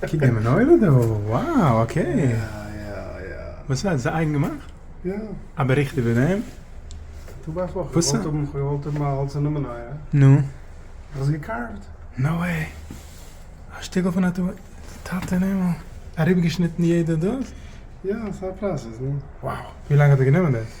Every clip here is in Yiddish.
קוק די מנורה דא, wow אקעי. וואס איז עס אייגן געמאכט? יא. א באריכט איבער דעם? טא ווייסט וואס, איך וואלט האבן, כ'וואלט האבן א האלצערנע מנורה. נו. איך האב עס געקארווט. נאו וועי. א שטיקל פון א טו ביי טאטע אין הימל. אריבערגעשניטן יעדע דאס? יא, ס'איז א פראסעס, נו. wow. ווי לאנג האט דיר גענומען דאס?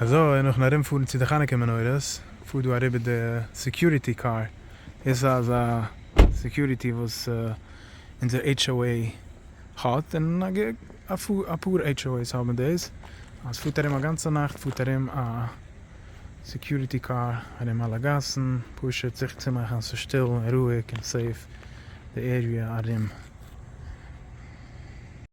אזוי נאכן ארומפארן צו די חנוכה מנורות פארט דא אריבער די סעקיוריטי קאר, דאס איז א סעקיוריטי וואס אונזער HOA האט, און אפאר HOA'ס האבן דאס, אז פארט ארום א גאנצע נאכט פארט ארום א סעקיוריטי קאר ארום אלע גאסן, פשוט זיכער צו מאכן אז ס'איז שטיל און רואיג און סעיף די עריע ארום.